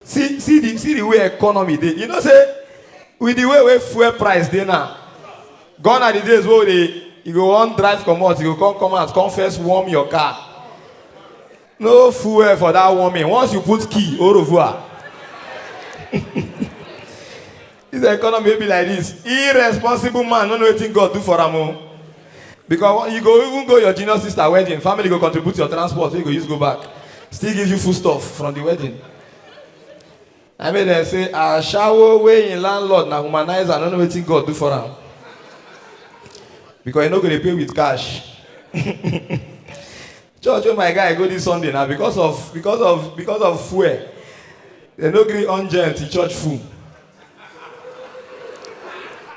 see see the see the way economy dey you know say with the way wey fuel price dey now gone are the days wey we dey you go wan drive comot you go come come out come first warm your car no fuel for that warming once you put key orovuwa This economy wey be like this, irresponsible man no know wetin God do for am o. Because you go even go your junior sister wedding, family go contribute your transport wey you go use go back, still give you foodstuff from the wedding. Na make dem say ashawo wey im landlord na womanizer no know wetin God do for am. Because e no go dey pay with cash. church wey my guy go this sunday na because of because of because of fuel dem no gree on gen till church full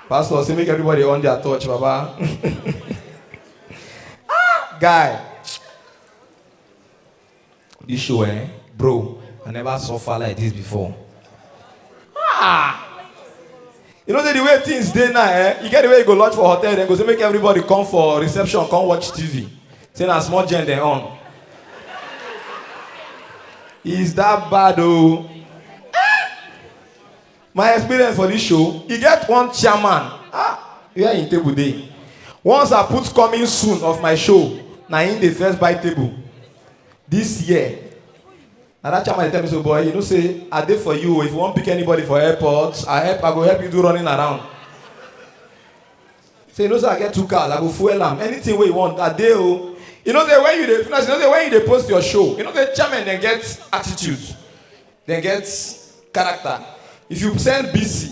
pastor say make everybody on their torch baba ah guy this show eh bro i never suffer like this before ah you know say the way things dey now eh you get the way you go lodge for hotel dem go say make everybody come for reception come watch tv say na small gen dem on is that bad o oh? my experience for this show e get one chairman ah where im table dey once i put coming soon of my show na im dey first buy table this year na that chairman dey tell me so boy you know say i dey for you if you wan pick anybody for airport i help i go help you do running around say you know say i get two cars i go fuel am anything wey you want i dey o you know say when you dey finish you know say when you dey post your show you know say chairman dem get attitude dem get character if you send bc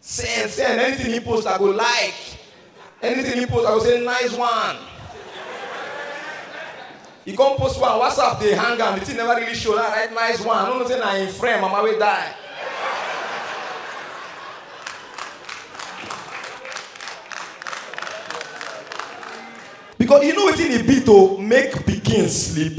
Send, send. Anything he post, I go like. Anything he post, I go say nice one. He come post one WhatsApp, they hang am. The thing never really show. Now write nice one. I don't know say na him friend, mama wey die. Because you know wetin e be to make pikin sleep.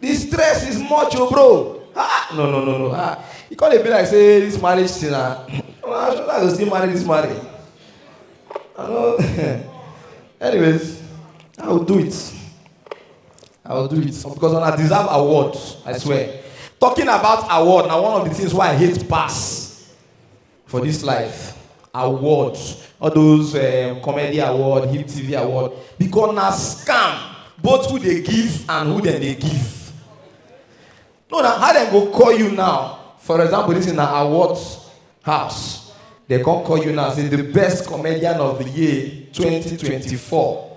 the stress is much o oh, bro ah no no no no ah e come dey be like say this marriage thing na ah, i go still marry this marriage i no anyways i go do it i go do it because una deserve award i swear talking about award na one of the things wey i hate pass for this life award all those um, comedy award hip tv award because na scam both who dey give and who dem dey give no na how dem go call you now for example this na award house dem come call you now say the best comedian of the year 2024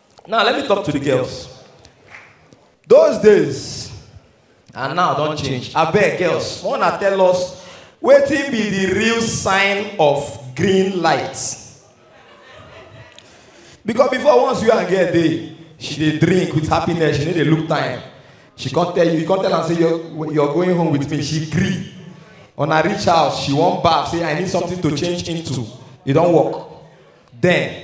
Now, let me talk to the girls. Those days, and now don't change. I beg, girls, want to tell us what be the real sign of green light? Because before once you and get there, she dey drink with happiness she no dey look time she come tell you you come tell am say you're, you're going home with me she gree una reach house she wan baff say i need something to change into e don work then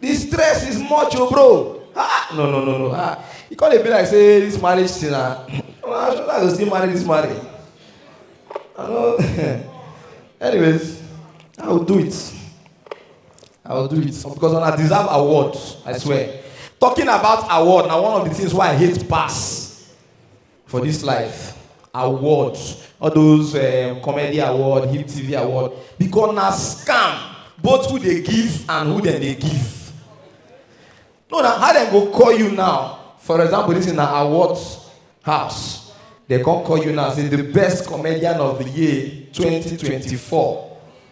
the stress is much o oh, bro ah no no no no ah e come dey be like say this marriage thing na ah, i try to still marry this marriage i no anyways i will do it i will do it because una deserve award i swear talking about award na one of the things wey i hate pass for this life award all those um, comedy award hip tv award because na scam both who dey give and who dem dey give no na how dem go call you now for example this na award house dem come call you now say the best comedian of the year 2024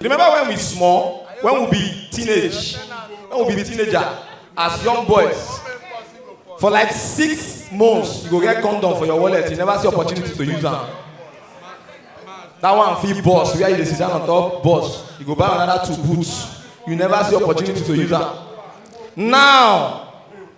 Remember when we small, when we be teenage, when we be teenager, as young boys, for like six months, you go get condom for your wallet, you never see opportunity to use them. That one fee boss, where you dey sit down on top boss, you go buy another two boots, you never see opportunity to use them. Now,